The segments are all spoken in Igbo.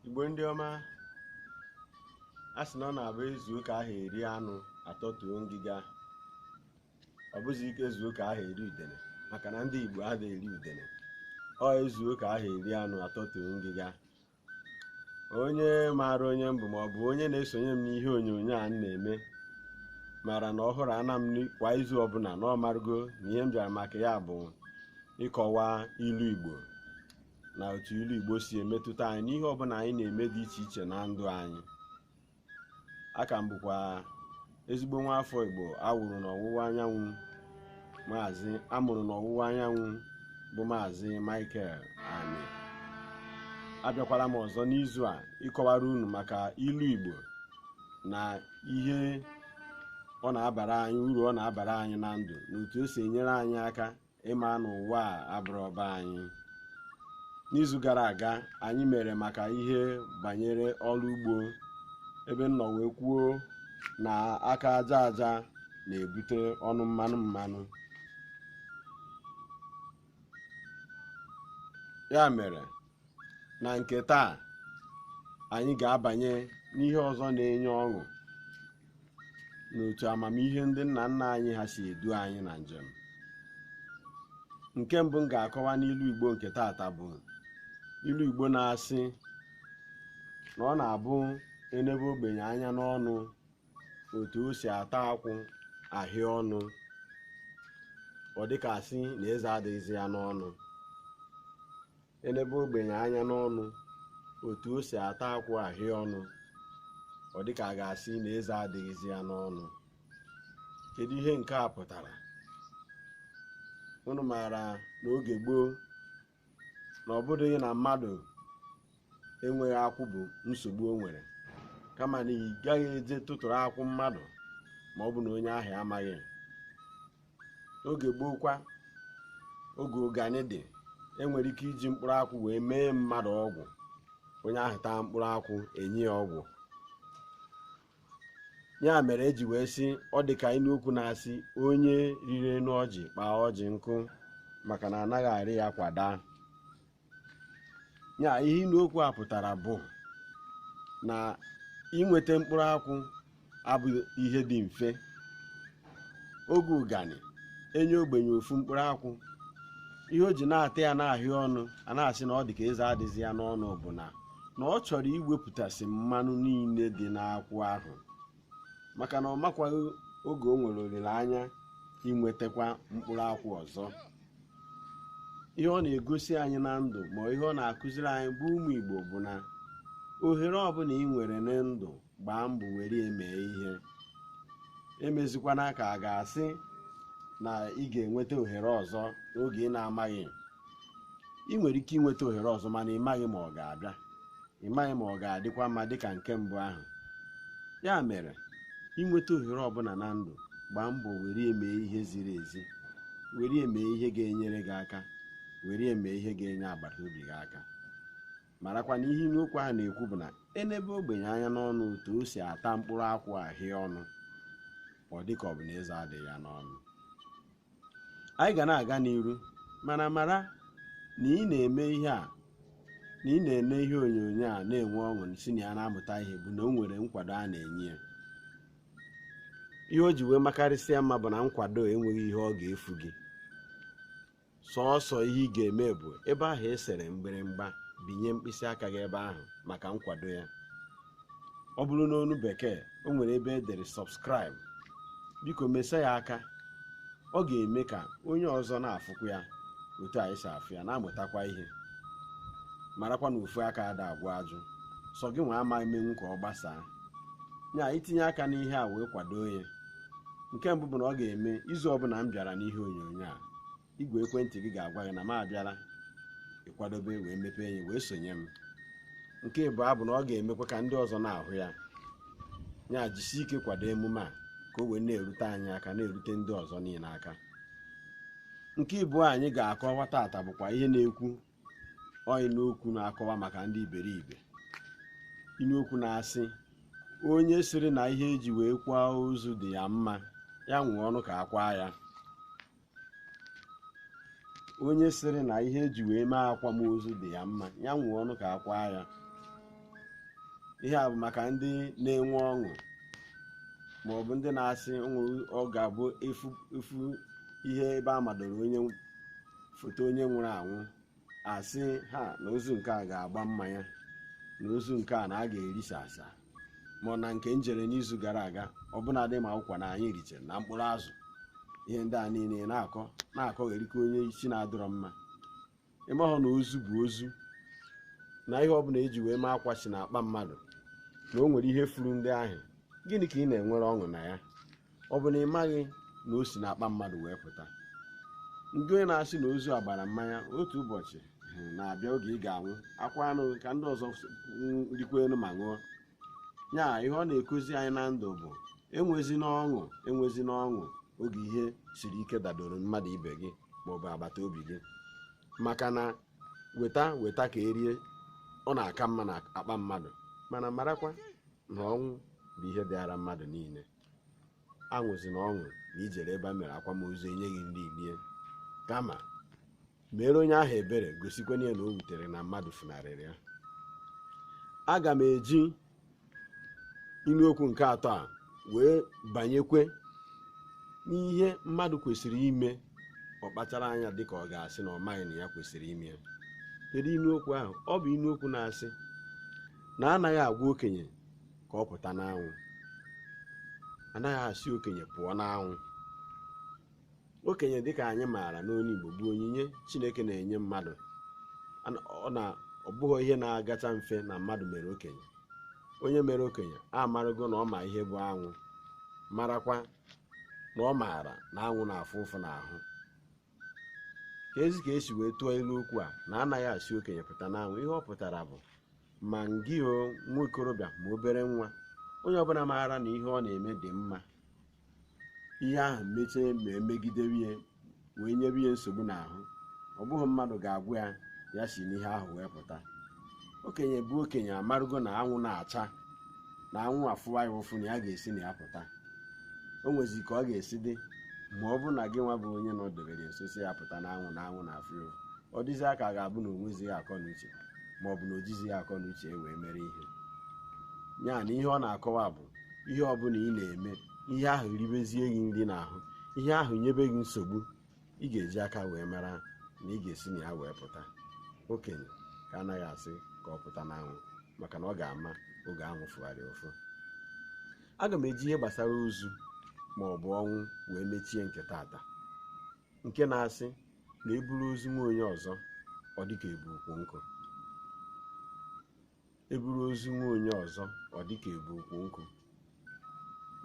igbo ndị ọma a sị na ọ na-abụ ezuo ka aha eri anụ atọtuo ngịga ọ bụzi ike ezuo ka aha eri udene maka na ndị igbo adịghị eri udene ọ ezuo ka aha eri anụ atọtuo ngịga onye maara onye m bụ ma ọ bụ onye na-esonye m n'ihe onyonyo a m na-eme mara na ọhụrụ ana m ni- kwa izu ọbụla na ọ marụgo na ihe m bịara maka ya bụ ịkọwa ilu igbo na otu ilu igbo si emetụta anyị n'ihe ọbụla anyị na-eme dị iche iche na ndụ anyị a ka m bụkwa ezigbo nwa afọ igbo awụrụ n'ọwụwa anyanwụ maazị amụrụ n'ọwụwa anyanwụ bụ maazị michael ani abịakwala m ọzọ n'izu a ịkọwara unu maka ilu igbo na ihe ọ na-abara anyị uru ọ na-abara anyị na ndụ na otu o si enyere anyị aka ịma na ụwa a abụrọ be anyị n'izu gara aga anyị mere maka ihe banyere ọrụ ugbo ebe m nọ wee kwuo na aka aja aja na-ebute ọnụ mmanụ mmanụ ya mere na nke taa anyị ga-abanye n'ihe ọzọ na-enye ọṅụ n'otu amamihe ndị nna nna anyị ha si edu anyị na njem nke mbụ m ga-akọwa n'ilu igbo nke taata bụ ilu igbo na-asị na ọ na-abụ enebe ogbenye anya n'ọnụ otu o si ata akwụ ahịa ọnụ ọ dịka asị na eze adịghịzi ya n'ọnụ elebe ogbenye anya n'ọnụ otu o si ata akwụ ahịa ọnụ ọ dị ka a ga-asị na eze adịghịzi ya n'ọnụ kedu ihe nke a pụtara unu maara na oge gboo na ọ bụdịghị na mmadụ enweghị akwụ bụ nsogbu o nwere kama na ị gaghị eje tụtụrụ akwụ mmadụ ma ọ bụ na onye ahụ amaghị oge gboo kwa oge ụganị dị enwere ike iji mkpụrụ akwụ wee mee mmadụ ọgwụ onye ahụ taa mkpụrụ akwụ enye ya ọgwụ ya mere eji wee sị ọ dị ka inu okwu na-asị onye rịrị enu ọjị kpaa ọjị nkụ maka na anaghị arị ya kwa daa nya ihe inu okwu a pụtara bụ na inweta mkpụrụ akwụ abụghị ihe dị mfe oge ụganị e nye ogbenye ofu mkpụrụ akwụ ihe o ji na-ata ya na-ahịa ọnụ a na-asị na ọ dị ka eze adịzi ya n'ọnụ bụ na na ọ chọrọ iwepụtasị mmanụ niile dị n'akwụ ahụ maka na ọ makwaghị oge o nwere olileanya inwetakwa mkpụrụ akwụ ọzọ ihe ọ na-egosi anyị na ndụ ma ihe ọ na-akụziri anyị bụ ụmụ Igbo bụ na ohere ọbụna i nwere na ndụ gbaa mbọ were ya mee ihe emezikwana ka a ga-asị na ị ga-enweta ohere ọzọ n'oge ị na-amaghị i nwere ike inweta ohere ọzọ mana ị maghị ma ọ ga-abịa ị maghị ma ọ ga-adịkwa mma dịka nke mbụ ahụ ya mere i nweta ohere ọbụna na ndụ gbaa mbọ were ya mee ihe ziri ezi were ya mee ihe ga-enyere gị aka were ya mee ihe ga-enye agbata obi gị aka marakwa na ihe inu okwu ahụ na-ekwu bụ na e nebe ogbenye anya n'ọnụ otu o si ata mkpụrụ akwụ ahịa ọnụ ọ dịka ọ bụ na eze adịghị ya n'ọnụ anyị ga na-aga n'iru mana mara na ị na-eme ihe a na ị na-ene ihe onyonyo a na-enwe ọṅụ si na ya na-amụta ihe bụ na o nwere nkwado a na-enye ya ihe o ji wee makarịsịa mma bụ na nkwado enweghị ihe ọ ga-efu gị sọọsọ ihe ị ga-eme bụ ebe ahụ e sere mgbịrịmgba binye mkpịsị aka gị ebe ahụ maka nkwado ya ọ bụrụ n'onu bekee o nwere ebe e dere subscribe biko mesa ya aka ọ ga-eme ka onye ọzọ na-afụkwa ya otu anyị si afụ ya na-amụtakwa ihe marakwa na ofu aka ada agwọ ajụ sọ gị nwa ama emenwu ka ọ gbasaa nya i tinye aka n'ihe a wee kwado ya nke mbụ bụ na ọ ga-eme izu ọbụna m bịara n'ihe onyonyo a igwe ekwentị gị ga-agwa gị na m abịala ị kwadobe wee mepee ya wee sonye m nke ịbụọ bụ na ọ ga-emekwa ka ndị ọzọ na-ahụ ya ya jisi ike kwado emume a ka o wee na-erute anyị aka na-erute ndị ọzọ niile aka nke ịbụọ anyị ga-akọwa tata bụkwa ihe na-ekwu ọ inu okwu na-akọwa maka ndị iberibe inu okwu na-asị onye sịrị na ihe e ji wee kwaa ozu dị ya mma ya nwụọ nụ ka a kwaa ya onye sịrị na ihe e ji wee mee akwamozu dị ya mma ya nwụọ nụ ka a kwaa ya ihe a bụ maka ndị na-enwe ọṅụ ma ọ bụ ndị na-asị ọ ga-abụ ị fụ ihe ebe a madoro onye foto onye nwụrụ anwụ asị ha na ozu nke a ga-agba mmanya na ozu nke a na a ga-erisa asa ma na nke m jere n'izu gara aga ọbụnadị ma ụkwa na anyị richere na mkpụrụ azụ ihe ndị a niile na-akọ na-akọgheri ka onye isi na-adịrọ mma ị mahụ na ozu bụ ozu na ihe ọbụla eji wee mee akwa si na akpa mmadụ na o nwere ihe furu ndị ahụ gịnị ka ị na-enwere ọṅụ na ya ọ bụ na ị maghị na o si n'akpa mmadụ wee pụta ngị onye na-asị na ozu agbara mmanya otu ụbọchị eh, na-abịa oge ị ga-anwụ akwa anụ ka ndị ọzọ rikwenụ ma ṅụọ ya ihe ọ na-ekuzi anyị na ndụ bụ enwezina ọṅụ enwezina ọṅụ oge ihe siri ike dadoro mmadụ ibe gị maọbụ agbata obi gị maka na weta weta ka erie ọ na-aka mma na akpa mmadụ mana marakwa na ọnwụ bụ ihe dịara mmadụ niile aṅụzina ọṅụ na i jere ebe a mere akwamozu enyeghị nri rie kama mere onye ahụ ebere gosikwanụ ya na o wutere na mmadụ funarịrị ya aga m eji ilu okwu nke atọ a wee banyekwe n'ihe mmadụ kwesịrị ime ọ kpachara anya dịka ọ ga-asị na ọ maghị na ya kwesịrị ime ya kedu ilu okwu ahụ ọ bụ ilu okwu na-asị na anaghị agwa okenye ka ọ pụta n'anwụ anaghị asị okenye pụọ n'anwụ okenye dịka anyị maara n'olu Igbo bụ onyinye Chineke na-enye mmadụ na ọ bụghị ihe na-agacha mfe na mmadụ mere okenye onye mere okenye amarago na ọ ma ihe bụ anwụ marakwa na ọ maara na anwụ na-afụ ụfụ n'ahụ ka ezi ka esi wee tụọ ilu okwu a na anaghị asị okenye pụta n'anwụ ihe ọ pụtara bụ ma ngị o nwa okorobịa ma obere nwa onye ọbụla maara na ihe ọ na-eme dị mma ihe ahụ mechie ma emegidewe ya wee nyebe ya nsogbu n'ahụ ọ bụghị mmadụ ga-agwa ya ya si n'ihe ahụ wee pụta okenye bụ okenye amarụgo na anwụ na-acha na anwụ afụwa ya ụfụ na ya ga-esi na ya pụta o nwezi ka ọ ga-esi dị ma ọ bụ na gị nwa bụ onye nọdebere nso sị ya pụta n'anwụ na anwụ na-afụ ya ọ dịzi ka ọ ga-abụ na o nwezighị akọ na uche ma ọ bụ na o jizighị akọ na uche wee mere ihe ya na ihe ọ na-akọwa bụ ihe ọ bụla ị na-eme ihe ahụ ribezie gị nri n'ahụ ihe ahụ nyebe gị nsogbu ị ga-eji aka wee mara na ị ga-esi na ya wee pụta okenye ka anaghị asị ka ọ pụta n'anwụ maka na ọ ga-ama oge anwụ fụgharị ụfụ aga m eji ihe gbasara ozu ma ọ bụ ọnwụ wee mechie nke tata nke na-asị na eburu ozu nwa onye ọzọ ọ dịka ebu ukwu nkụ eburu ozu nwa onye ọzọ ọ dịka ebu ukwu nkụ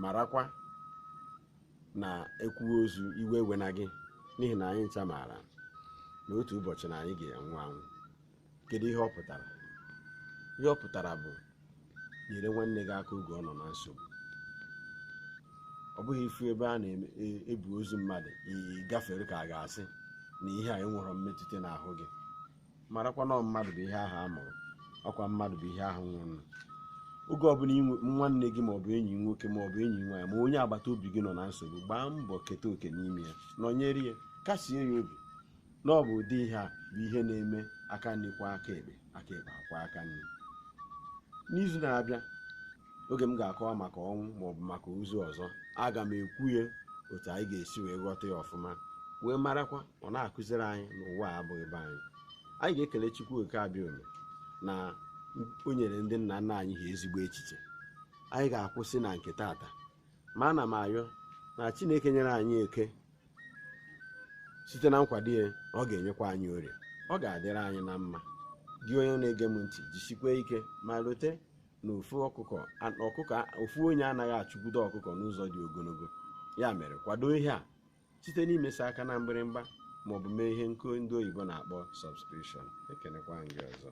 marakwa na ekwuwe ozu iwe ewena gị n'ihi na anyị ncha maara na otu ụbọchị na anyị ga-anwụ anwụ kedu ihe ọ pụtara ihe ọ pụtara bụ nyere nwanne gị aka oge ọ nọ na nsogbu ọ bụghị ị fụ ebe a na-ebu ozu mmadụ ị gafere ka a ga-asị na ihe a enwerọ mmetụta n'ahụ gị marakwa na mmadụ bụ ihe ahụ a mụrụ ọkwa mmadụ bụ ihe ahụ nwụrụ oge ọbụla nwanne gị maọbụ enyi nwoke maọbụ enyi nwaanyị ma onye agbata obi gị nọ na nsogbu gbaa mbọ keta oke n'ime ya nọnyere ya kasie ya obi na ọ bụ ụdị ihe a bụ ihe na-eme aka nri kwọọ aka ekpe aka ekpe akwọọ aka nri n'izu na-abịa oge m ga-akọwa maka ọnwụ maọbụ maka ozu ọzọ aga m ekwu ya otu anyị ga-esi wee ghọta ya ọfụma wee marakwa ọ na-akụziri anyị na ụwa a abụghị be anyị anyị ga-ekele Chukwu oke abịama na o nyere ndị nna nna anyị ha ezigbo echiche anyị ga-akwụsị na nke tata ma ana m ayọ na Chineke nyere anyị eke site na nkwado ya ọ ga-enyekwa anyị orie ọ ga-adịrị anyị na mma gị onye na-ege m ntị jisikwa ike ma lote na ofu onye anaghị achụkwudo ọkụkọ n'ụzọ dị ogologo ya mere kwado ihe a site n'imesa aka na mgbịrịmgba maọbụ mee ihe nke ndị oyibo na-akpọ subscription ekenekwa gị ọzọ